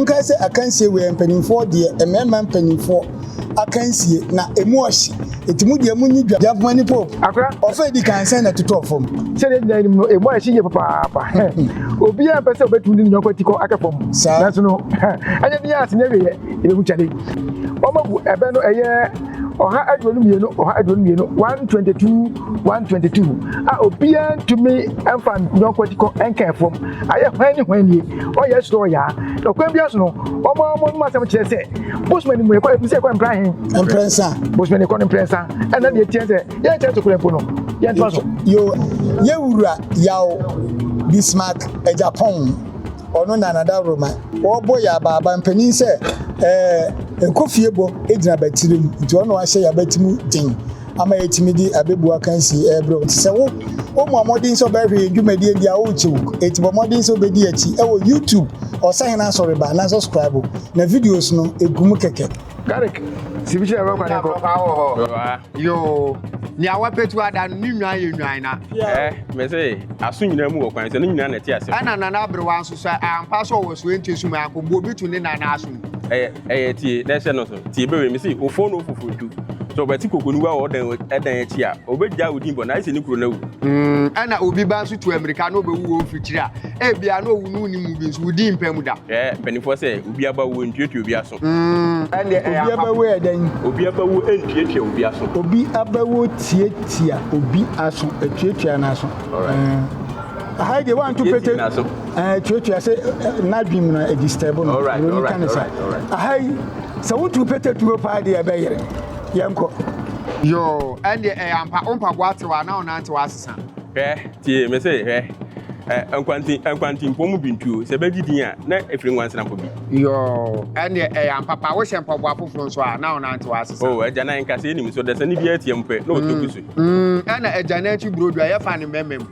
Monkae sɛ akansie wei yɛ mpanimfoɔ deɛ, mmarima mpanimfoɔ akansie, na ɛmu ɔhye. Enti mo deɛ monni dwa. Gyamfoma ne Pope, ɔfa a ɛdi kan sɛn na ɛtotɔɔ fam? Sɛdeɛ yɛn nyinaa nim no, ɛmu ayɛ hye yie papaapa. Obiara mpɛ sɛ ɔbɛtu ne yɔnko atikɔ ahwɛ fam. Nanso no, ɛnyɛ den ara sɛ ne awieeɛ yɛbɛhu kyale. Wɔabu ɛbɛ no ɛyɛ ɔha aduonu mmienu, ɔha aduonu mmienu, 122 one twenty two a obiara ntumi mfa nyɔnko ti kɔ nka fam ayɛ hwan ne hwan nie ɔyɛ soro ɔyaa na ɔkwan biara so no wɔn a wɔn mu asɛm kyerɛ sɛ bosman ne mu yɛkɔ ebi sɛ ɛkɔ mpira he mprɛnsa bosman ne kɔ ne mprɛnsa ɛna deɛ tiɛ sɛ yɛn kyerɛ so kura mpo no yɛn tuma so. yo yɛwura yaw bismark ajapɔn ɔno nanada roma wɔbɔ yɛ abaaba mpanin sɛ ɛɛ eh, nkofie bɔ gyina batiri mu nti ɔno ahyɛ yɛ abati mu den ama yɛatumi de abebu akansi rebrɛ wo. Te sɛ wo, wommɔ mmɔden sɛ wobɛhwɛ yɛn dwumadie no deɛ a, worekyew. Enti bɔ mmɔden sɛ wobɛdi yɛn akyi wɔ YouTube Ɔsahene Asɔreba na subscribe na videos no gu mu kɛkɛ. Garlic si bi kyerɛ ɛwɔ kwan kɔ. Ɛwɔ wɔ hɔ. Yoo. Nea wapɛtu ada no ne nnwan yɛ nnwan na. Ɛ mɛ sɛ aso nyinaa mu wɔ kwan sɛ ne nyinaa na ɛte ase. Ɛna nana aberewa nso sɛ ampa sɛ ɔwɔ so ɛnte so mu anko mbu obi to ne nana aso mu. Ɛyɛ. Ɛyɛ tie na ɛhyɛ no so. Tie bɛwɛ me se ofon no ofoforo ntu. Sɛ ɔbɛte kokonuwa wɔ ɔdan dan akyi a, obegyaa wo din bɔ na ayɛ sɛ ne kuro no awu. Ɛna obi ba nso tu ammirika na obewu wɔ wo mfirikyiri a, ebia na owu no wunnim mu bi nso, wo din mpa mu da. Hwɛ mpanimfoɔ sɛ obi aba wu ntuatua obi aso. Ɛnneɛ ɛyɛ ampa. Obi aba wu yɛ dɛn? Obi aba wu ntuatua obi aso. Obi aba wu tuatua obi aso, ɛtuatua n'aso. Alright. Aha yi deɛ woanto pete. Yɛntie n'aso. Eh, tuatua sɛ eh, n'adwene mu na ɛdistɛbo no buroni ka ne sa aha yi sɛ wotu pɛtɛtuo paa deɛ ɛbɛyere yɛnkɔ yoo ɛndeɛ ɛyɛ ampa wo mpaboa atew a na wo nan tew asesa hwɛ tie me se hwɛ eh, nkwanti nkwantimpɔ mu bintuo sɛ bɛgye din a na ɛfiri nkwansenafo bi yoo ɛndeɛ ɛyɛ ampa pa wohyɛ mpaboa foforɔ nso a na wo nan tew asesa o oh, agya nan nkasa anim so dɛsɛ ne bi atiam pɛ na ɔtɔ bi so mm, mm, ɛna agya nan akyi burodo a yɛfa ne mmɛmma mu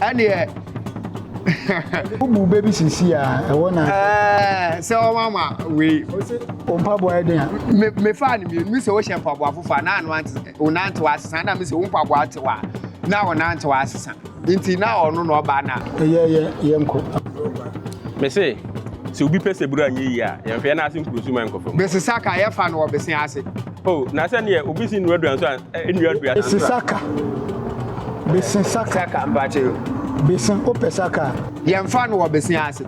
ɛneɛ wobu bɛ bi sisi a ɛwɔ na sɛ ɔma ma wei mpaboa yɛ den a mefaa no mmienu sɛ wohyɛ mpaboa fofa na ano wonantew asesa na mesɛ wo mpaboa tew a na wonantew asesa nti na ɔno na ɔbaa na ɛyɛ yɛ yɛnkɔ mese sɛ obi pɛ sɛ buru anyɛ yie a yɛmfɛɛ no ase nkurusu ma nkɔfam bese saka yɛfa no ɔbese ase o na sɛdeɛ obi si nnuaduan so a nnuadua no Bese saka. Bese saka. Saka mpakyɛ yo. Bese o pɛ saka a. Yɛnfa no wɔ bese ase.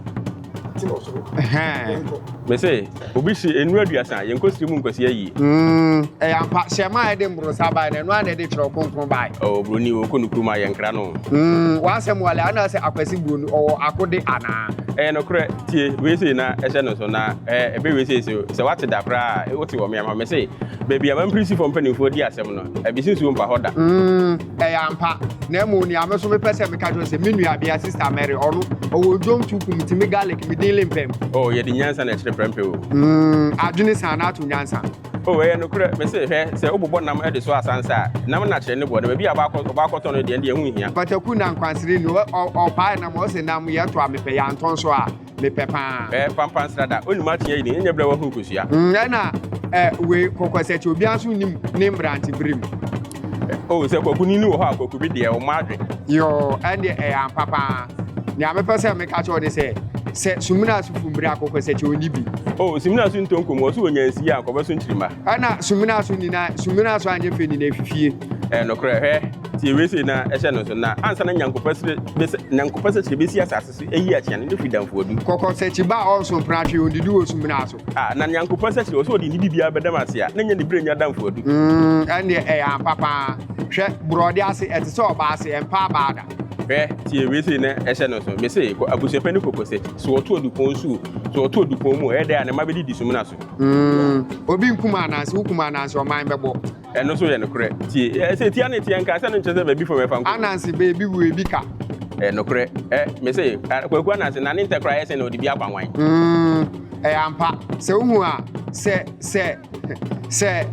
Ti no so. Hɛn. Mese obi si enu aduasa yɛnkɔ siri mu nkwasi ayie. Mm, ɛyɛ ampa hyɛ ma ɛde mborosa bae na ɛno a na ɛde kyerɛw kronkron bae. Oh, buroni wɔ kɔ no kurom a yɛnkra no. Mm, w'asɛm wale ana sɛ akwasi buroni ɔwɔ akode anaa? Ɛyɛ nokorɛ tie wei sei na ɛhyɛ no so na ɛbɛ wei sei so sɛ wate da koraa a wote wɔ meam hɔ mese Baabi a m'ampirisifo mpanimfoɔ di asɛm no, abisi nsuo mpa hɔ da. Mm, ɛyɛ ampa. Na mmom nea me so mepɛ sɛ meka kyerɛ sɛ me nuabea Sista Mary, ɔno, ɔwɔ odwom to ku metumi garlic me din lempɛm. O, oh, yɛde nyansa na ɛkyerɛ prɛmpɛ o. Mm, adwene san na ato nyansa. O, oh, ɛyɛ nokorɛ. Me se, hwɛ, sɛ wobobɔ nam de soa asansa a, nam no akyerɛ ne boɔ, na baabi a ɔbɛakɔtɔ no deɛ, ɛnde ɛho nhia. Pataku na nkwansere ni, ɔpae nam, ɔse nam yɛtɔ a mepɛ, yɛantɔ nso a, mepɛ paa. Ɛɛ pampa nsrada onim akyea yi ne nyɛ brɛ wahu nkosua. Nyɛ na ɛ wei kɔkɔsɛkyi obiara nso nim ne mbrante bere mu. O sɛ kwaku ni ni wɔ hɔ a kwaku bi deɛ ɔmo adwe. Yoo ɛndeɛ ɛyɛ ampa paa nea mepɛ sɛ meka kyerɛ wo ne sɛ sɛ sumina so fumbire a kɔkɔsɛkyi ɔnni bi. O sumina so ntɔ nkomu ɔso ɔnya nsi a nkɔbɛ so nkyirima. Ɛna sumina so nina sumina so anyɛ fɛ nina efifie. Ɛɛ nokorɛ hwɛ tie wei sei na ɛhyɛ no nso na ansa na nyankopɔsre bese nyankopɔsɛkyerɛ besi asase. So eyi akyea ne dɔ fi damfo adu. Kɔkɔ sɛ kyiba a ɔnso mpena hwee ondidi wɔ sumina so. A, na Nyankopɔn sɛ kyerɛ ɔsɛ ɔde ne biribiara bɛdam ase a, na ɛnyɛ ne berɛ nya damfo adu. Mm, ɛnneɛ ɛyɛ ampa pa ara. Hwɛ, borɔde ase, ɛte sɛ ɔbaa ase, ɛmpa abaa da. Hwɛ, tie wei sei na ɛhyɛ no nso. Mese, kɔ abusua pa ne kɔkɔ sɛ kyi. So ɔto adupɔn so o, so ɔto adupɔn mu o, ɛyɛ dɛn a ne mma bɛdidi sumina so. Mm, obi nkum ananse, wokum ananse ɔman bɛbɔ. Ɛno nso yɛ nokorɛ. Tie, ɛ, sɛ tia ne teɛ nka, sɛ no nkyerɛ sɛ baabi fam ɛfa nko. Ananse baabi wu ebi ka. Ɛyɛ nokorɛ. Ɛ, me se, ɛ, Kwaku Ananse, na ne ntɛ koraa yɛ sɛ na ɔde bi akwan wan. Mm, ɛyɛ ampa. Sɛ wohu a, sɛ, sɛ, sɛ,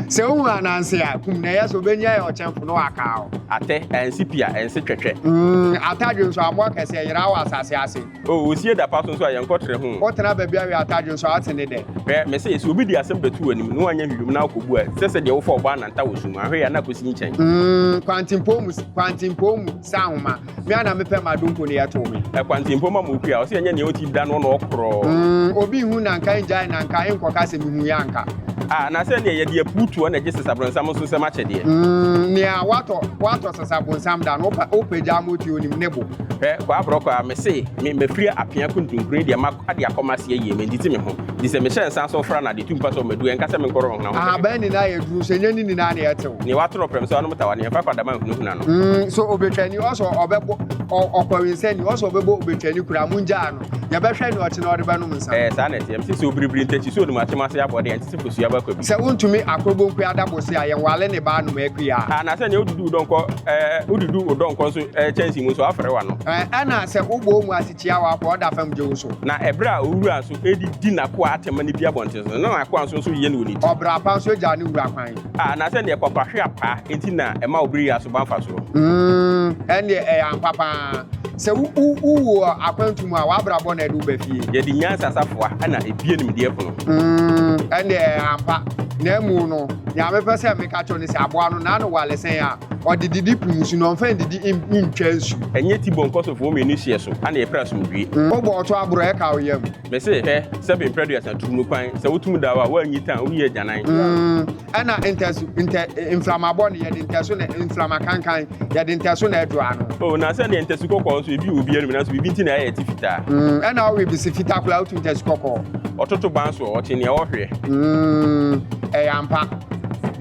sɛ wohu Ananse a, kum no. Ɛyɛ sɛ ɔbɛnya yɛ ɔkyɛmfo na waka wo. Atɛ, ansi pia, ɛnse twɛtwɛ. Mm, atadwe nso, amoa kɛseɛ, yera wɔ asase ase. O, osie da pa so nso a, yɛnkɔ trɛ ho o. Wotena baabi awe atade nso a, ate ne dɛ. Hwɛ, mese yɛ, sɛ obi de asɛm bɛto w'anim, na woanyɛ hwehwɛ mu na akɔbu a, sɛ sɛ deɛ wofa ɔbɔ ananta wɔ sum mu, ahwɛ yɛ a na akɔsi nkyɛn. Mm, kwantempɔn mu, kwantempɔn mu sɛ ahoma, me a na mepɛ m'adonko no yɛtow me. Ɛ, kwantempɔn mu ama okua, ɔse ɛnyɛ nea ɔte da no ɔna ɔkorɔ. Mm, obi nhu na anka ɛngyae na anka ɛnkɔka sɛ mehuiɛ anka. A, na sɛ neɛ yɛde apu toɔ na ɛgye sesabronnsam nso nsɛm akyɛdeɛ. Mm, nea watɔ, watɔ sesabonsam da no, wopɛ, wopɛ gyaa ma otua onim ne bo. Hwɛ, kwaa borɔ kwaa, mese me mafiri apea kuntunkuni deɛ ma ade akɔ m'ase ayie, mentete me ho, nti sɛ mehyɛ nsa so fra no a, deɛ ɛtu mpa sɛ ɔmadu, ɛnka sɛ menkɔ Ronhona ho sɛ mekɔ. Ahaban nyinaa yɛ duru, sɛ ɛnyɛ ne nyinaa na ɛte o. Nea watoro prɛm sɛ ɔnom tawa, nea ɛkwakwa dama nhunahuna no. Sɛ ɔbɛtwani, ɔse ɔbɛbɔ, ɔkɔwensani, ɔse ɔbɛbɔ ɔbɛtwani koraa, mongyaa no. yɛbɛhwɛ nea ɔte na ɔde bɛnom nsa. Ɛɛ saa na ɛteɛ. Mese sɛ obiribiri ntakyi so onim atem ase abɔde a, ɛnte sɛ kosua ba kwa bi. Sɛ wontumi akɔbɔ nku ada bose a, yɛnwale ne ba anom akua. Anaasɛ nea wodudu wo dɔnkɔ ɛɛ wodudu wo dɔnkɔ nso ɛɛ kyɛnsee mu nso afere w'ano. Ɛɛ ɛna sɛ wobɔ wɔn ase tia wo akoa a ɔda fam gye wo so. Na ɛberɛ a owura nso ɛde di n'akoa atɛm ne bi abɔnten so no, na n'akoa nso nso yɛ no wɔ ne ti. Ɔbra pa nso gya ne wura kwan. A Anaasɛ nea kwakwa hwe apaa nti na ɛma obiriyɛ aso ba mfasoɔ. Mm, ɛnneɛ ɛyɛ ampa pa ara. Sɛ wo wu wɔ akwantu mu a, w'abrabɔ na ɛde wo ba fie. Yɛde nyansa safoa na ebue nimdeɛ pono. Mm, ɛnde ɛyɛ ampa. Na mmom no, nea mepɛ sɛ meka kyerɛ wo ne sɛ, aboa no, n'ano wale sɛn a, ɔde didi po nsu, na ɔmfa nnidi nntwa nsu. Ɛnyɛ ti bɔ nkɔsofo mmienu hyeɛ so na yɛpere asomdwoe. Wobɔ ɔto aboro, ɛka wo yam. Mese, hwɛ, sɛbe mprɛduasa turu no kwan, sɛ wotom da wo a, woannyi tan, woyɛ agyanan. Mm, Ɛna ntɛso ntɛ mframabɔ no yɛde ntɛso na mframa kankan yɛde ntɛso na ɛdɔ ano. Oh, na sɛdeɛ ntɛso kɔkɔɔ nso ebi wɔ obi anum nanso biribi nti na ɛyɛ te fitaa. Mm, ɛna ɔwe bisi fitaa koraa otu ntɛso kɔkɔɔ. Ɔtoto ban soɔ ɔte nea ɔhweɛ. Mm, ɛyɛ ampa.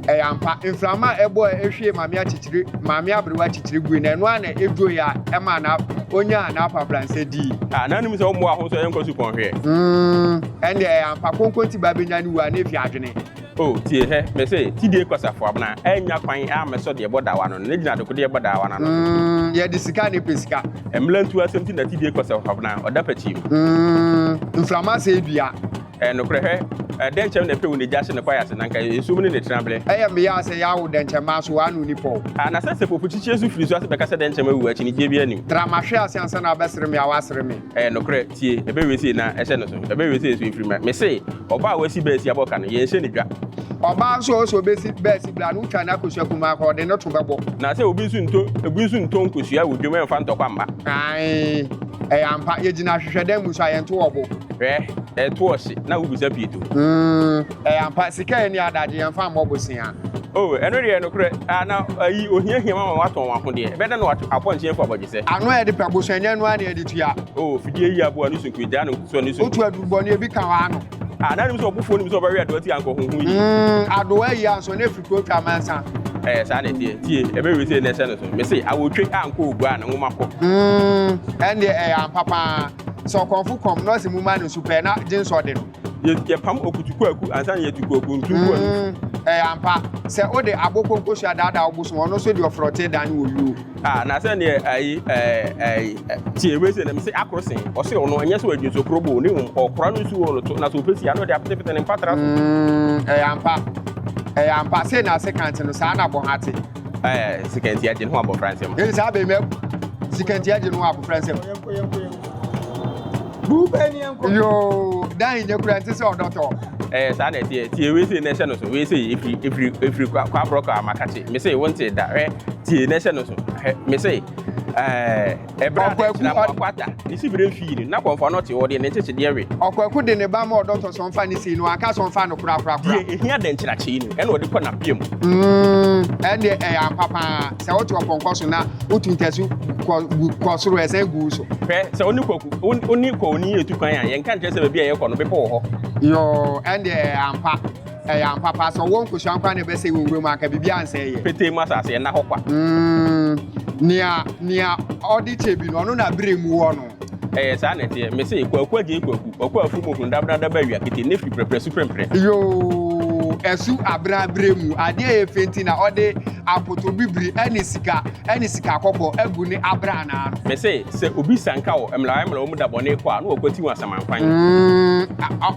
Ɛyɛ ampa. Mframa a ɛbɔ a ehwie maame akyikyiri maame aberewa akyikyiri gui na ɛno ara na edwoe a ɛmaa na onyaa n'apabransɛ dii. Ah, na anim sɛ ɔmmoa ho nso ɛyɛ nkɔso kɔnhweɛ. Mm, ɛnde ɛyɛ ampa. Konkonti ba benya ne wu a na efi adwene. O, tie hɛ, mese, ti die kwasafo abena, ɛnnya kwan ammɛsɔ deɛ ɛbɔ daawa no ano, na gyina adekodeɛ ɛbɔ daawa no ano no. Mm, yɛde sika na ɛpɛ sika. Mmerantu asɛm nti na ti die kwasafo abena, ɔda pɛkyii mu. Mm, mframa asɛe dua. Ɛɛ, nokorɛ, hwɛ, ɛɛ, dɛnkyɛm na ɛpɛ wo na egya hye ne kwaeɛ ase, na anka nsuo mu ne ne tenabere. Ɛyɛ mmeae sɛ yɛawo dɛnkyɛmma so a na onni pɔw. Aa, na sɛ sɛpɔpukyikyie nso firi so ase bɛka sɛ dɛnkyɛmma awu a, akyinnyegyeɛ biara nnim. Tra mahwe ase ansa na wabɛsere me a, wasere me. Ɛyɛ nokorɛ, tie, ɛbɛyɛ wesee na ɛhyɛ no so, ɛbɛyɛ wesee nso ɛfiri mmerɛ. Mese, ɔbaa a wasi bɛɛsi abɔ ka no, yɛnhyɛ no dwa. Ɔbaa nso a ɔsɛ ɔbɛsi bɛɛsi berɛ a na ɔtwa n'akosua kumaa kɔ, ɔde no to bɛbɔ. Na sɛ obi nso ntɔ, obi nso ntɔ nkosua wɔ dwam ɛmfa ntɔkwa mma. Aane, ɛyɛ ampa, yɛgyina ahwehwɛdɛm mu nso a, yɛnto wɔ bo. Hwɛ, ɛto ɔhye, na wobisa pii to. Ɛɛ ampa, sika a ɛnni adagye, yɛmfa mmɔ bosea. O, ɛno deɛ, nokorɛ, a, na, ayi, ohiahia wɔn ma wɔatɔn wɔn ahodeɛ. Ɛbɛda na wɔato apɔnkye afu abɔgyesɛ. Ano a yɛde pɛ bosea nya no ara na yɛde tua. O, fidie yi aboa ne sunkuro, egyaa ne nkotosrɛ ne sunkuro. Wotu aduru bɔne bi ka w'ano. A, na anim sɛ ɔbofoɔ nim sɛ ɔbɛwe adowa ti anka ɔhoho yie. Mm, adowa yi anso, na ɛfiri kuro twa amansa. Ɛɛ, saa na ɛteɛ. Tie, ɛbɛwe sei na ɛhyɛ no so. Mese, awotwe a anka ɔgu a, ne nwoma kɔ. Mm, ɛndeɛ, ɛyɛ ampa pa ara. Sɛ ɔkɔmfo kɔm, na ɔse momma no nsu pɛ, na gye nso ɔde no. yɛpam okutuku aku ansa na yɛatu kuaku ntu gu anu. Mm, ɛyɛ ampa sɛ wode abo konkohyia daadaa wo bosom ɔno nso de ɔfrɔte dan wɔ wuo. Ah, na sɛ neɛ ayi ayi tie wei sɛ na mese akoro sen ɔse ɔno ɛnyɛ sɛ ɔadi nso koro boo ne mmom ɔkora no nsu wɔ no to na sɛ ɔpɛ si ano de apetepete ne mpatra so. Mm, ɛyɛ ampa ɛyɛ ampa sɛ na ase kante no saa na bɔha te. Ɛɛ sikanti agye ne ho abɔfra nsɛm. Ɛyɛ saa bɛmɛ sikanti agye ne ho abɔfra nsɛm. Bube ni enko. Yoo, dan nyɛ kura nti sɛ ɔdɔ tɔ. Ɛɛ eh, saa na ɛteɛ. Tie wei sei na ɛhyɛ no so. Wei sei efiri efiri efiri kwa kwa aborɔ kwa amakakye. Me sei wonte da. Hwɛ tie na ɛhyɛ no so. Hwɛ me sei. Ɛɛ ɛbra na ɛkyerɛ mo akwata. Ne si bere fii no na kɔnfɔ no te ɔde ne nkyekyedeɛ we. Ɔkwaku de ne ba ma ɔdɔ tɔ so ɔnfa ne sei no anka so ɔnfa no kora kora kora. Deɛ ehia dɛnkyerɛkyee no ɛna ɔde kɔ n'apia mu. Mm, ɛndeɛ ɛyɛ ampa paa. Sɛ wote ɔpɔnkɔ so na wotu ntasu kɔ gu kɔ soro ɛsɛn gu wo so. Hwɛ, sɛ wo ne kwaku, wo, wo ne kwaoni yɛ tu kwan a, yɛnka nkyerɛ sɛ baabi a yɛrekɔ no, bepɔ wɔ hɔ. Yoo, ɛnde ɛyɛ ampa. Ɛyɛ ampa paa. Sɛ ɔwɔ nkosua nko ara na ɛbɛsɛe wɔ nwura mu a, anka biribiara nsɛe yɛ. Petee mu asase, ɛnna hɔ kwa. Mm, nea, nea ɔde kyɛ bi no, ɔno na bere mu wɔ no. Ɛyɛ saa na ɛteɛ. Mese, kwaku agye kwaku, ɔkɔ afu mu hundabrada ba awia kete, Nephi prɛprɛ su prɛmprɛ. Yoo, ɛsu abrɛabrɛ mu, adeɛ a ɛyɛ fɛ nti na ɔde akoto bibiri ne sika ne sika kɔkɔɔ agu ne abrannaa no. Mese, sɛ obi sanka wɔ mmlawae mmlawa mu da bɔne kɔ a, na wakwati wɔn asamankwanye. Mm,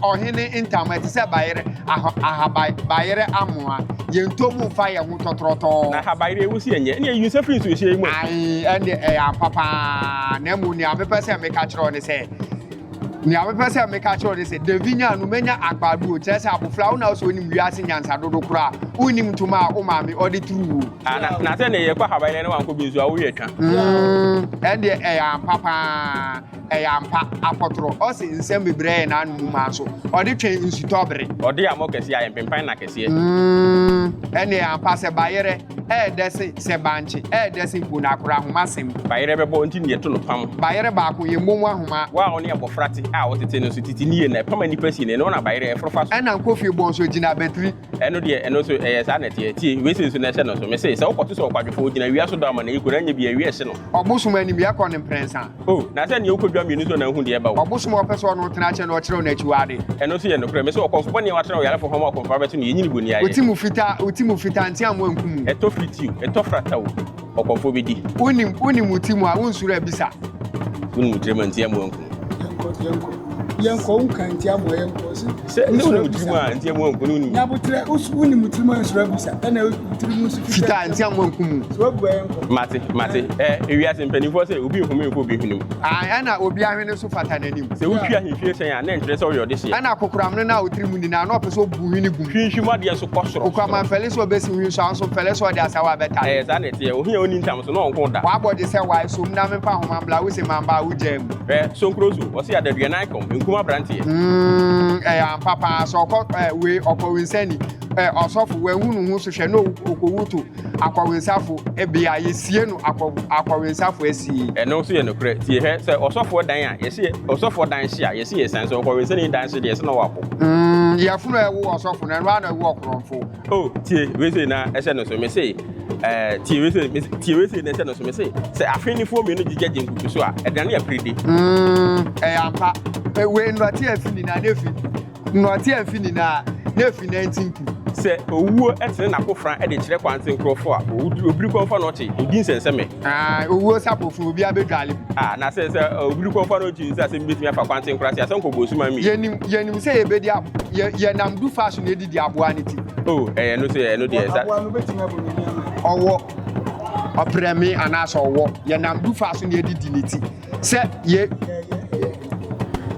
ɔhene ntama ɛte sɛ bayerɛ, aha, aha, bayerɛ amoa, yɛntɔ mu mfa yɛn ho. tɔtorɔtɔɔ. Na habayire a ɛwusie nyɛ. Ɛnneɛ yi nsa firi nsuohyia yi mu. Ae, ɛnde ɛyɛ ampa pa ara. Na mmom nea mepɛ sɛ meka kyerɛ wo ne sɛ, nea mepɛ sɛ meka kyerɛ wo ne sɛ, Davi nyaa no manya agbaaduo, kyerɛ sɛ, abofra, wo na wose wonim wiase nyansa dodo koraa, wonnim ntoma a wo maame ɔde turu wo. Ah, na, na sɛdeɛ yɛkɔ habayire na wankɔ bi nso a, wo werɛ twa. Mm, ɛndeɛ ɛyɛ ampa pa ara. Ɛyɛ ampa, akɔtorɔ. Ɔse nsɛm bebree ayɛ n'ano mu ma nso ɔde twɛn nsutɔ bere. Ɔde amɔ kɛseɛ ayɛ mpempan nna kɛseɛ. Mm, ɛneɛ ampa sɛ bayerɛ ɛyɛ dɛ se sɛ bankye ɛyɛ dɛ se mpo na akora ahoma sem. Bayerɛ bɛbɔ nti na yɛto no pam. Bayerɛ baako yɛ mmom ahoma. Wo a ɔne abɔfra te a ɔtete no nso tete nie na ɛpam a nnipa si no, ɛno na bayerɛ ɛforo fa so. Ɛna nkofie bɔ nso gyina batiri Ɛno deɛ, ɛno nso, ɛyɛ saa na ɛteɛ. Tie, wei sei nso na ɛhyɛ no nso. Mese, sɛ wokɔto sɛ ɔkwadwofoɔ, gyina awia so dɔ ama no ayiko, na anyɛ bi a, awia rehye no. Ɔbosom anim yɛ kɔ no mprɛnsa. O, na sɛdeɛ wokɔdwa mmienu nso na wohu deɛ ɛba o. Ɔbosom a ɔpɛ sɛ ɔne wo tena akyɛ no, ɔkyerɛ wo n'akyiwadeɛ. Ɛno nso yɛ nokorɛ. Mese, ɔkɔmfo bɔne a watrɛ ɔyarefo ho ama ɔkɔmfoɔ abɛto no, yɛnyini bonniayɛ. Wo ti mu fitaa, wo ti mu fitaa, nteamoa nkum wo. Ɛtɔ firi ti o, ɛtɔ frata o. Ɔkɔfoɔ bɛdi. Wonim, wonim wo ti mu a, wonsuro abisa. Wonim wo tirim a, nti amoa nku. Yɛnkɔ, yɛnkɔ, yɛnkɔ, wonka nti amoa yɛnkɔ. Sɛ ne wonim wo tirim a, nti amoa nku. Nyabotrɛ, wonim wo tirim a, nsuro abisa. Ɛna wo tirim nso fitaa. Fitaa, nti amoa nku mu. Sɛ wabua yɛnkɔ. Mate, mate. Ɛ, ewiase mpanimfoɔ sɛ, obi nhome nkɔ obi hwene mu. Ae, ɛna obi ahwene nso fata n'anim. Sɛ wotwi ahemfie hyɛn a, na ɛnkyerɛ sɛ ɔyɛ ɔdehyeɛ. Ɛna kokorammono no a wo tirim nni no a, na ɔpɛ sɛ obu. gu hwene gu mu. Hwinhwim adeɛ so kɔ soro. Okura ma mfɛle sɛ ɔbɛsi hwene so, anso mfɛle sɛ ɔde asawa abɛtare. Ɛɛ, saa na ɛteɛ. Ohia a ɔnni ntam so, na ɔnko da. W'abɔ gye sɛ wae, som na memfa nhoma mmra, wo se mamba a wogyaa mu. Hwɛ, sonkuro so, ɔse adaduanan kɔm, nkum abranteɛ. Umm, ɛyɛ ampa paa, sɛ ɔkɔ, ɛɛ, wei, ɔkɔ, nsani, ɛɛ, ɔsɔfo, wanhu ne ho so, hwɛ, na ɔwu, ɔkɔwu to. akɔwensafo bea, yesie no akɔ akɔwensafo asie. Ɛno nso yɛ nokorɛ. Tie hwɛ, sɛ ɔsɔfoɔ dan a, yɛse ɔsɔfoɔ dan hye a, yɛse yɛsiane, sɛ ɔkɔwensani dan hye deɛ, yɛse na ɔwɔ apo. Mm, yafunu a ɛwowɔ ɔsɔfo no, ɛno ara na ɛwowɔ ɔkorɔmfo. Oh, tie wei sei na ɛhyɛ no so, mese, eh, tie wei sei, mese, tie wei sei na ɛhyɛ no so, mese, sɛ afennifoɔ mmienu gyigya gye nkukuso a, ɛdane aperedi. Mm, ɛyɛ ampa. Wei nnɔte afi nyinaa na efi. Nnɔte amfi ne nan a na afi nantin pu. Sɛ owuo tene n'akofena de kyerɛ kwan te nkurɔfoɔ a, ɔwuduru obirikɔmfa na ɔte, ɔdi nsɛnsɛmɛ. Aane, owuo sapofoɔ, obiara bɛdwale mu. Aa, na sɛ, sɛ obirikɔmfa no gye nsa sɛ mebɛtumi afa kwan te nkurase a, sɛ ɔnkɔ bonsuman mmienu. Yɛnim, yɛnim sɛ yɛbɛdi abo, yɛ, yɛnam du fa so na yɛdidi aboa no ti. O, ɛyɛ ɛno so, ɛno deɛ, sa. Aboa no bɛtumi abɔ ne nneɛma. Ɔwɔ, ɔprɛme, anaasɛ ɔwɔ, yɛnam du fa so na yɛdidi ne ti. Sɛ yɛ.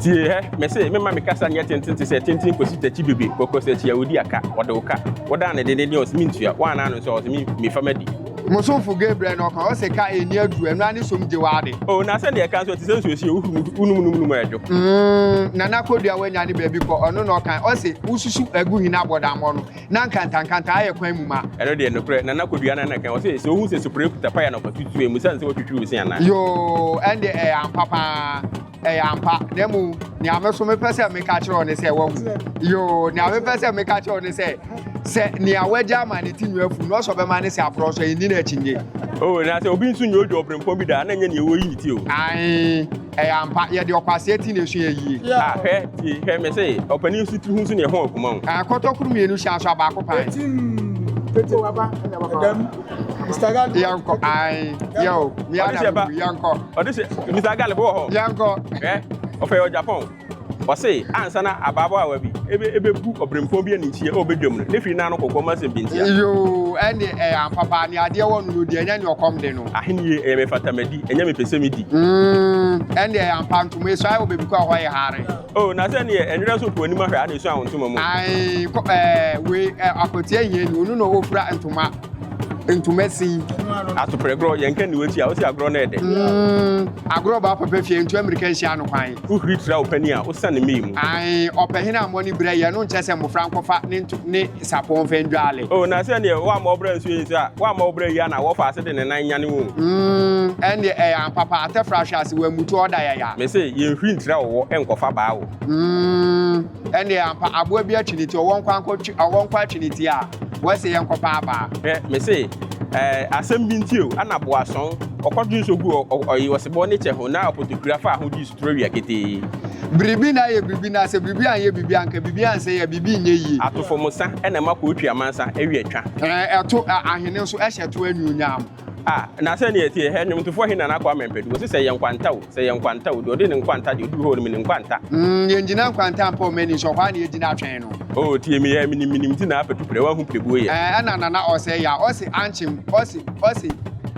Tie hɛ, mese, memma me kasa nyɛ tenten te sɛ tenten kosi takyi bebe, kɔkɔ sɛ akyi a odi aka, ɔde wo ka, wodan no dendendenn ɔse mentua, woannan no nso a ɔse me mefa m'adi. Mo somfo Gabriel na ɔka, ɔse ka a enni aduru, ɛno ara ne som gye w'ade. Oh, na sɛnea ɛka nso, ɛte sɛ nsuo si a wohuru mu gu, wonom nom nom a ɛdwo. Mm, Nana Kodua woanya ne baabi kɔ, ɔno na ɔka, ɔse wosusu agu hene abɔdammɔ no, na nkantankanta ayɛ kwan mu ma. Ɛno deɛ nokorɛ Nana Kwadwo ara na ka, ɔse sɛ wohu sɛ Supre kuta paya na ɔfatu tu emu sane sɛ watwitwi wo se anaa? Yoo ɛnde ɛyɛ ampa paa ɛyɛ ampa na emu nea me so mepɛ sɛ meka kyerɛ wo ne sɛ wahu yoo nea mepɛ sɛ meka kyerɛ wo ne sɛ sɛ nea wagya ama ne ti nwi afu no ɔsɔ bɛma ne sɛ aporɔ nso ɛnni no akyinye. Oo na sɛ obi nso nyɛ odwo ɔbrempɔn bi da a na ɛnyɛ nea ɛwɔ yi ne ti o. Ae. Ɛyɛ ampa, yɛde ɔkwasea ti na ɛso yɛ yie. Ah, hwɛ, tie, hwɛ, me se, ɔpanin nso tiri ho nso na ɛho akuma o. Ah, kɔtɔkuru mmienu hyɛ aso abaako pan. Etim, tete waba, ɛdam, Mr. Galip. Yɛnkɔ, ae, yɛ o, mia na mu, yɛnkɔ. Ɔde hyɛ, Mr. Galip wɔ hɔ. Yɛnkɔ. Hwɛ, ɔfɛ yɛ ɔjapɔn. Ɔse ansa na abaabaawa bi ɛbɛbu ɔbrempɔn bi aninteɛ ɛwɔ bɛdwam no, ne firi no ano kɔkɔɔ ma asɛm bi ntia. Yoo, ɛnde ɛyɛ ampa paa, nea adeɛ wɔ no no di, ɛnyɛ nea ɔkɔm de no. Ahennie, ɛyɛ mefata madi, ɛnyɛ mepɛ sɛ medi. Mm, ɛnde ɛyɛ ampa, ntoma esuae wɔ baabi kɔ a ɛhɔ yɛ hare. Oh, na sɛ neɛ ɛnwerɛ nso kɔ w'anim ahwɛ a na ɛsua wo ntoma mu. Ae, kɔ, ɛɛ, wei, ɛɛ, akwatia hiani, ɔno na ɔfira ntoma, ntoma sin. Atoprɛ gorɔ, yɛnka nni w'akyi a, ɔse agorɔ no yɛ dɛ. Mm, agorɔ ba papa fie, ntu ammirika nhyia no kwan. Wo huri tra wo panin a osian ne mma yi mu. Ae, ɔpahin a mmɔne bira yi, ɛno nkyɛ sɛ mmofra nkɔfa ne nto ne sapɔw mfa ndwale. O na sɛdeɛ woamma wo bra ansuo yi nso a, woamma wo bra yi anaa wɔfa ase de ne nan nyane wo. Mm, ɛnneɛ ɛyɛ ampa pa, atɛfra ahwe ase, wammutu, ɔda yaya. Mese, yɛnhuri ntra wo wɔ nkɔfa baa wo. Mm. Ɛnneɛ ampa, aboa bi akyi ne ti, ɔwɔ nkwa nkɔ twi, ɔwɔ nkwa akyi ne ti a, wɔse yɛnkɔpa abaa. Hwɛ, mese, ɛɛ, asɛm bi nti o, ana boasɔn, ɔkɔtwe nso guu ɔ, ɔ, ɔyi ɔsebɔ ne kyɛ ho, na ɔpotokura faa ho gyee suturo awia ketee. Biribi na ayɛ biribi, na sɛ biribi anyɛ biribi a, anka biribi ansɛe a, biribi nyɛ yie. Atofo mo sa na ɛma kootu amansa awia twa. Ɛɛ, ɛto, ɛ, ahene nso hyɛ to anuonyam. Ah, na sɛnea ɛteɛ, hɛ, nnwomtofoɔ he Nana Kwame Ampadu, ɔse sɛ yɛ nkwanta o, sɛ yɛ nkwanta o, deɛ ɔde ne nkwanta deɛ ɔduru hɔ no menim nkwanta. Mm, yɛngyina nkwanta mpo mma ani nsɔ hɔ a na yɛgyina atwɛn no. Oh, tie me, yɛ, menim, menim nti na apɛ tu prɛ, woahu prɛ buo yɛ. Eh, ɛna Nana ɔsɛe yɛ a, ɔse ankyem, ɔse, ɔse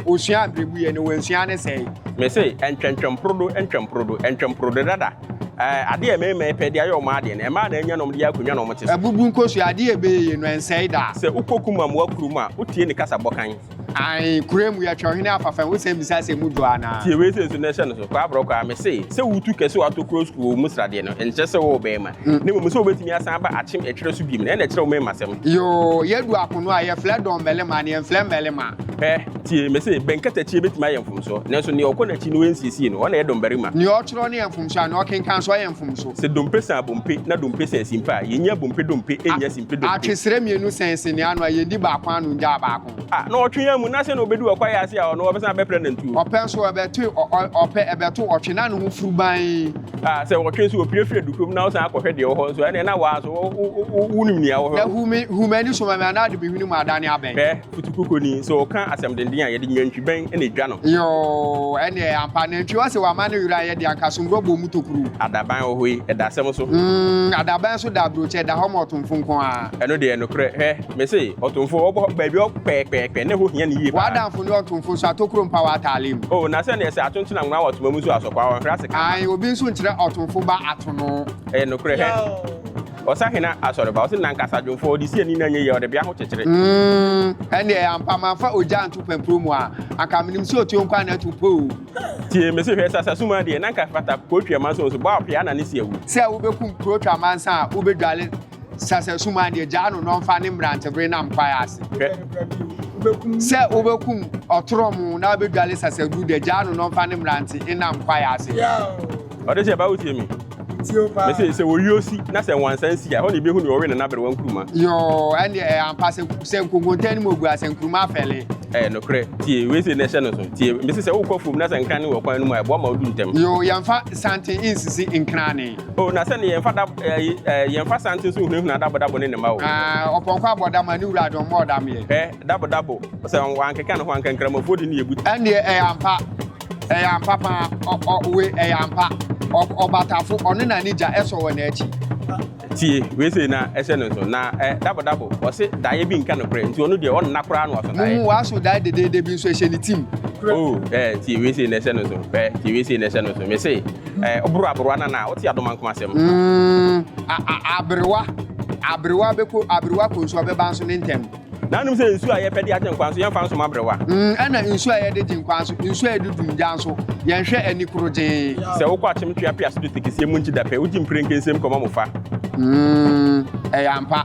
ɔsuaa mprɛbu yɛ na wansua ne sɛe. Mese, ɛntwɛntwɛm porodo, ɛntwɛm porodo, ɛntwɛm porodo dada. Eh, adeɛ a mmarima yi pɛ de ayɛ wɔn adeɛ no, ɛmaa na anya na wɔde yɛ akonnwa na wɔte so. Abubu nkosua, adeɛ a ɛbɛyɛ yɛ no, ɛnsɛe da. Sɛ wokɔ kumam wɔ kurom a, wotie ne kasa bɔ kann. Ae, kura mu yɛ twɛwhene afafa wo sɛm bisa sɛ mu dwo anaa. Tie wei sei nso na hyɛ no so, kwaa brɔkwaa, mese sɛ wo tu kɛ sɛ watɔ kuro sukuu wɔ mu sradeɛ no nkyerɛ sɛ wowɔ bɛɛma, na mmom sɛ wobɛtumi asan aba akyem ɛtwerɛ so biom na ɛna ɛkyerɛ wo mɛɛma sɛm. Yoo, yɛ du akono a yɛ flɛ dɔn mɛlema na yɛ nflɛ mmɛlema. Hwɛ, tie, mese bɛn katakyie bɛtumi ayɛ mfomsoɔ, nanso nea ɔkɔ n'akyi na ɔnsiesie no, ɔna ɛyɛ dɔnbarima. Nea ɔtwerɛ no yɛ mfomsoɔ a nea ɔkenkan nso ɔyɛ mfomso. Sɛ dompe san abompe na dompe san simpe a, yɛnyi abompe dompe nnya simpe. Atwesrɛ mmienu sɛn se nea ano a yɛn di baako ano ngyaa baako. A, na ɔtwe yɛn amu, na se na ɔbɛdu ɔkwae ase a ɔno ɔbɛsan abɛprɛ nantuo. Ɔpɛ nso ɛbɛto ɔ, ɔ, ɔpɛ ɛbɛto ɔtwe na ne ho furu ban. A, sɛ ɔtwe nso ɔpire firi adukurom na ɔsan akɔhwɛ deɛ ɛwɔ hɔ nso a, ɛneɛ na waa nso wo, wo, wo, wo, wonim nea ɛwɔ hɔ. Na hu me, hu m'ani so ma me, anaa de me hwene mu adane abɛn. Hwɛ, Kutukuku ni, so ɔka asɛm denden a yɛde nnwantwibɛn na edwa no. Yoo, ɛneɛ ampa, nantwi ɔse wama ne werɛ anyɛ den anka somborɔ bɔɔ mu tokuru. Adaban wɔ hɔ yi, ɛda asɛm so. Umm, adaban nso da aburokyɛ, ɛda hɔ ma ɔtomfo nko ara. Ɛno deɛ, nokorɛ, hwɛ, mese, ɔtomfo, ɔbɔ hɔ baabi hɔ pɛɛpɛɛpɛ, na ɛhɔ hia no yie paa. W'adamfo ne ɔtomfo nso, atokuro mpa w'ataale mu. Oh, na sɛdeɛ sɛ ato nkyena nwera wɔ toma mu nso, asɔkwaa ɔnhwere ase ka mma. Ae, obi nso nkyerɛ ɔtomfo ba ato no. Ɛyɛ nokorɛ, hwɛ. Ɔsahena Asɔreba, ɔse nankasa dwomfoɔ, ɔde si ani na nyɛ yie, ɔde bea ho kyekyere. Umm ɛndeɛ ampa manfa ogya anto pampuro mu a anka menim sɛ otuo nkoa na atu po o. Tie me se hwɛ sasa suma deɛ na anka fata kuro twi amansan osu bɔ a ɔpea na ne se awu. Sɛ wobɛkum kuro twi amansan a wobɛdwale sasa suma deɛ gyaa no na ɔmfa ne mmerantebere nam kwaeɛ ase. Sɛ wobɛkum ɔtorɔmo na wobɛdwale sasa duru deɛ gyaa no na ɔmfa ne mmerante nnam kwaeɛ ase. Ɔde sɛ, Ba wotie me. Mese, sɛ ɔyuo si na sɛ nwansa nsi a, ɛhɔ na yɛbɛhu nea ɔwe ne n'aberewa nkuruma. Yoo, ɛnneɛ ɛyɛ ampa sɛ, sɛ nkonkonta anim ɔgu a, sɛ nkuruma afɛle. Ɛyɛ nokorɛ. Tie, wei sei na ɛhyɛ no so. Tie, mese, sɛ wokɔ afuom na sɛ nkran ne wɔ kwan no mu a, ɛboa ma wodu ntɛm. Yoo, yɛmfa santen nsisi nkrane. Oo, na sɛne yɛmfa da, ɛyi, ɛɛ, yɛmfa santen nso nhunahuna Dabodabo ne ne mma o. Aa, ɔpɔnkɔ abɔ dam a, ne wura adommɔ ɔdamyɛ. Hwɛ, Dabodabo, sɛ wankeka ne ho anka, nkramofoɔ de ne yɛbutu. Ɛnneɛ ɛyɛ ampa. Ɛyɛ ampa paa ɔ ɔ we ɛyɛ ampa ɔ ɔbatafo ɔno na ne gya ɛsɔ wɔ n'akyi. Tie wei sei na ɛhyɛ no nso na ɛ dabo dabo ɔse daeɛ bi nka nokorɛ nti ɔno deɛ ɔnna koraa na waso daeɛ. Muhu waso daeɛ dedeede bi nso ɛhyɛ ne tim. Oh ɛ tie wei sei na ɛhyɛ no nso ɛ tie wei sei na ɛhyɛ no nso mese ɛ ɔboro aberewa no anaa wote adomankoma asɛm. Mm a a aberewa aberewa bɛkɔ aberewa kɔ nsu ɔbɛba nso ne ntɛm. Na anom sɛ nsuo a yɛpɛ de agye nkwa nso, yɛmfa nso ma aberewa. Ɛna nsuo a yɛde gye nkwa nso, nsuo a yɛde dum gya nso, yɛnhwɛ ani korogyee. Sɛ wokɔ akyem twea pease do tekeseɛ mu nkye da pɛ, wogye mprɛnke nsam kɔma mo fa. Ɛyɛ ampa,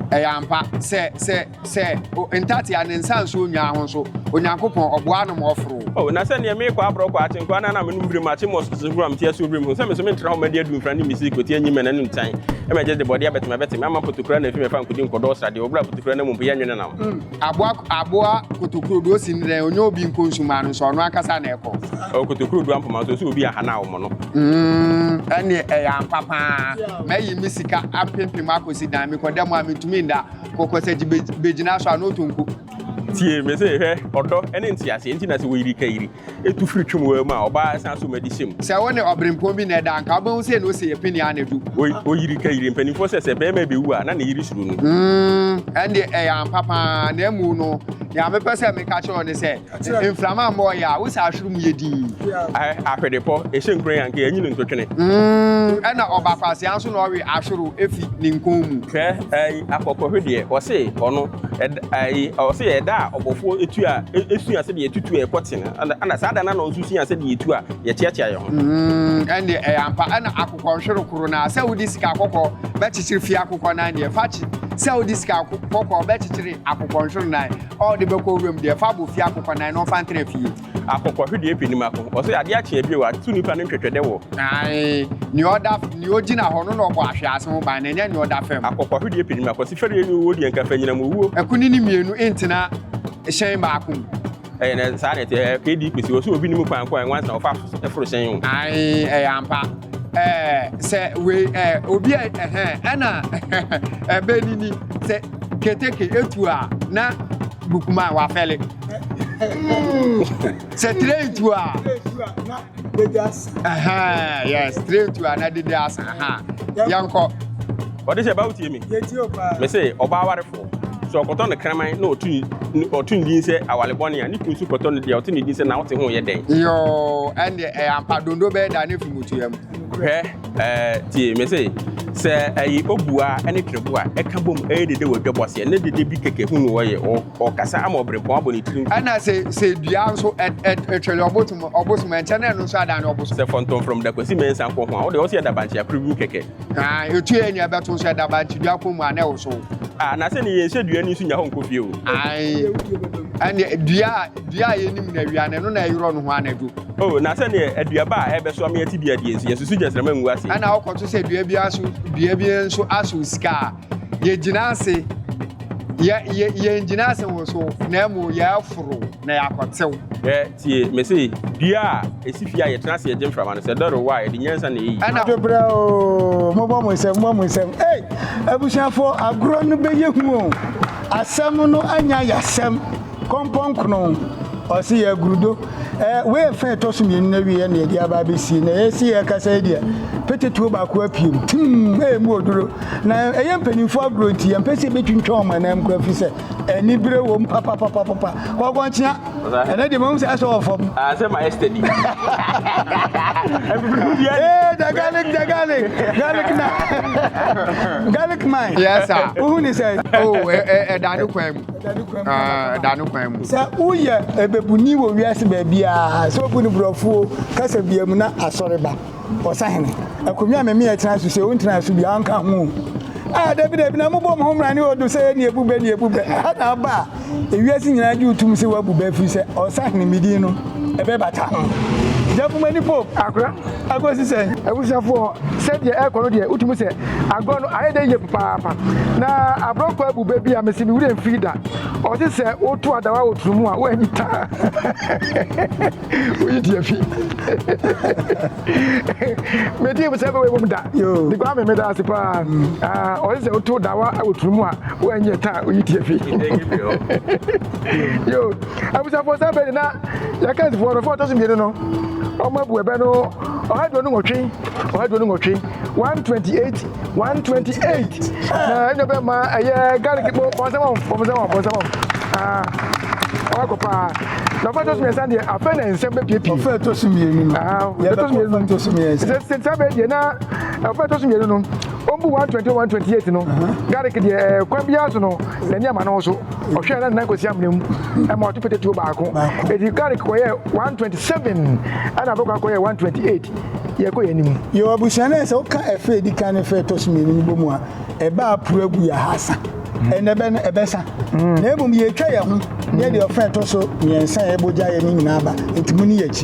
ɛyɛ ampa, sɛ, sɛ, sɛ, o, ntatea ne nsa nsuo nnwaa ho nso, Onyankopɔn, ɔboa anom ɔforo. O na sɛ neɛ meekɔ aborɔ kɔ akye nkoa no a na menom birim akye mmɔ so sesehuro a mete asuo birim hu sɛ menso mentra hɔ madi adu mfra ne mmisi kɔti anyi mmɛ n'anom tan ɛmɛ gye de bɔdeɛ abɛteme abɛteme ama potokura no afi mɛfa nkɔdi nkɔdɔ wɔ sradeɛ wɔ berɛ a potokura no amu mpo yɛ nwene nam. Mm, aboa aboa kotokuro do osi ne dɛn ɔnyɛ obi nkɔ nsu maa no nso ɔno ankasa na ɛkɔ. O kotokuro do ampoma nso ɔsɛ obi aha no a ɔmɔ no. Mm, ɛneɛ ɛyɛ ampa paa mɛyi me sika apempem akɔsi dan mekɔda mu a mentumi nda kɔkɔsakyi bɛgyina so a na ɔtɔ nku. Tie me se, hwɛ, ɔdɔ ne nteaseɛ nti na sɛ wɔyiri kayiri, tu firi twam waa mu a, ɔbaa san so ma di hyɛ mu. Sɛ wo ne ɔberempɔn bi na ɛda a, anka wobɛhu sei na ose yɛ pene ara na adu. Wɔyiri kayiri. Mpanimfoɔ sɛ, sɛ barima bɛwu a, na ne yere suro no. Mm, ɛnde ɛyɛ ampa pa ara, na mmom no, deɛ mepɛ sɛ meka kyerɛ wo ne sɛ, mframa mmɔ wo yea, wo saa ahwere mu yɛ dinn. Ahɛ, ahwedepɔ, ɛhyɛ nkuran a, anka yɛanyi no ntotwene. Mm, ɛna ɔba kwasea nso na ɔwe ahwero fi ne nkɔn mu. Hwɛ, ɛyi, akɔkɔhwedeɛ, ɔse, ɔno. Ɔse yɛ da a ɔbɔfoɔ tu a ɛsua sɛdeɛ yɛtutu a ɛkɔ ten ɛna saa da no na ɔnso sua sɛdeɛ yɛtu a yɛkyeakyea yɛ ho. Ɛndeɛ ɛyɛ ampa ɛna akokɔ nhwere koro no a sɛ wode sika kɔkɔɔ bɛkyekyere fie akokɔ nan deɛ fa kye sɛ wode sika kɔkɔɔ bɛkyekyere akokɔ nhwere nan a wode bɛkɔ wuram deɛ fa bɔ fie akokɔ nan na ɔmfa ntena fie. Akokɔhwedeɛ pɛ nim ako. Ɔse adeɛ akye a bio a to nipa no ntwɛtwɛdɛ wɔ. Ae, nea ɔda, nea ogyina hɔ no na ɔbɔ ahwease ho ban na ɛnyɛ nea ɔda fam. Akokɔhwedeɛ pɛ nim ako. Ɔse fɛreɛ ne owuo deɛ nka fɛ nyinam owuo. Akunini mmienu ntena hyɛn baako mu. Ɛyɛ na saa na ɛte. Ɛɛ KD Kwesi, ɔse obi nim kwan ko a nwansa na ɔfa so foro hyɛn o. Ae, ɛyɛ ampa. Ɛɛ sɛ wei ɛɛ obi a ɛhɛ ɛna ɛbɛnini sɛ keteke etu a na bukuman wafɛle. Mm. sɛ tire tu a yes tire tu a na dede asa yɛnkɔ ɔde hyɛ bawo tie mi me se ɔbaa awarefo sɛ ɔkɔtɔ no kraman na ɔtu ɔtu ne din sɛ awale bɔne a ne kun so kɔtɔ no deɛ ɔte ne din sɛ na wote ho yɛ dɛn yoo ɛndeɛ ɛyɛ ampa dondo bɛyɛ da ne fi mu tua mu hwɛ ɛɛ tie me se sɛ ɛyi obua ɛne twerɛbo a ɛka bom ɛyɛ dede wɔ dwabɔ aseɛ ne dede bi kɛkɛ hu no wɔyɛ ɔ Ɔrekasa ama ɔberempɔn abɔ ne tirim. Ɛna sɛ sɛ dua nso ɛtwere ɔbosom ɔbosom ɛnkyɛ na ɛno nso adan no ɔbosom. Sɛ fɔntɔmfrɔm da kwasi mɛnsa nkɔ ho a wode ɔsi ɛdabankye akoro gu kɛkɛ. Aa etu yɛ nea ɛbɛto nso ɛdabankye dua kɔn mu a na ɛwosow. Aa na sɛ ne yɛn hyɛ dua ni nso nya hɔ nkɔ fie o. Ae ɛne dua dua a yɛnim na awia no ɛno na ɛyerɔ no ho anadwo. O na sɛ ne aduaba a ɛbɛso ama yɛte dua die nso yɛn susu gyɛnsrama ngu aseɛ. Ɛna wokɔto sɛ dua bi aso dua bi nso aso sika a Yɛgyina ase, yɛ, yɛ, yɛngyina ase wo so, na mmom yɛaforo na yɛakɔtew. Hwɛ, tie, mese, dua a esi fie a yɛtena ase yɛgye mframa no, sɛ ɛdɔre wo a, ɛde nyansa na eyi. Ɛna. Anadwo berɛ o, mobɔ mo nsam, mobɔ mo nsam. Ei, abusuafoɔ, agorɔ no bɛyɛ hu o, asɛm no anya yasɛm. Kɔmpɔn Krono, ɔse yɛ agrudo. Ɛ, wei fã ɛtɔ so mmienu no awieɛ na yɛde aba abɛsie. Na yɛsi yɛ kasa yi deɛ, petetuo baako apiem, tim, ɛ, ɛmu oduro. Na ɛyɛ mpanimfoɔ agorɔ nti, yɛmpɛ sɛ yɛbɛtwintwa wɔn ananmu koraa ɛfiri sɛ, anibere wɔ mu papapapapa. Kɔkɔnkyea, ɛnɛ deɛ mahu sɛ asɔ wɔ fam. Ah, sɛ ma yesterday. Ee, the garlic, the garlic, garlic na, garlic mine. Yes, sir. Wohu ne sɛ? Oh, ɛda ne kwan mu. da no kwan mu. Sɛ woyɛ ɛbɛbuni wɔ wiase baabiara sɛ obu no borɔfoɔ kasa bia mu na asɔre ba ɔsahene akonnwa meme ɛtena so sɛ wontena so bia ɔnka ho a dabi dabi na mobɔ mo ho mmra ne ɔdo sɛ ɛne ɛbu bɛ ne ɛbu bɛ ha na aba a ewiase nyinaa gye wotum sɛ woabu bɛ firi sɛ ɔsahene medin no ɛbɛbata ho gyafomani pope akora Ɛkɔsi sɛn? Abusuafoɔ, sɛdeɛ ɛrekɔ no deɛ, wotumi sɛ agorɔ no ayɛ dɛ yie papaapa. Na aborɔkɔ abu bɛ bi a mese me werɛ mfiri da. Ɔse sɛ woto adawa wɔ turo mu a, woanyi taa. Woyi deɛ fi. Metee mu sɛ bɛwɔ ɛwom da. De kwa me meda ase paa. Ɔse sɛ woto dawa wɔ turo mu a, woanyi taa, woyi deɛ fi. yo abusuafoɔ saa bɛdi na yɛka nsifoɔ no fo ɔtɔ so mmienu no ɔmo abu ɛbɛ no ɔha duonu nwɔtwe ɔha duonu nwɔtwe one twenty eight one twenty eight na ɛnyɛ bɛ ma ɛyɛ garlic mo bɔnsɛn wɔn bɔnsɛn wɔn bɔnsɛn wɔn aa ɔha kɔ paa na ɔfa tɔ so mmiɛnsa deɛ afɛ na nsɛm bɛ piepie ɔfa tɔ so mmienu no aa ɔfa tɔ so mmienu no tɔ so mmiɛnsa sɛ sɛ saa bɛ deɛ na ɔfa tɔ so mmienu no ɔmbu one twenty one twenty eight no garlic deɛ ɛɛ kwan biara so no na ɛni ama no so. Ɔhwɛɛ na Nana Kwesi Amena mu ma ɔto pete tuo baako. Edi Carrick kɔyɛɛ 127 ɛna Aboka kɔyɛɛ 128. Yɛkɔ yɛn anim. Yɛwɔ abusua no a sɛ woka ɛfɛ a edi kan ne fɛ a ɛtɔ so mmienu no bɔ mu a, ɛbɛ a aporo agu yɛ ahasa. Ɛnna ɛbɛ no ɛbɛsa. Na mmom yɛretwa yɛn ho yɛ deɛ ɔfã a ɛtɔ so mmiɛnsa a ɛbɔ gya yɛ no nyinaa aba. Enti muni yɛn akyi.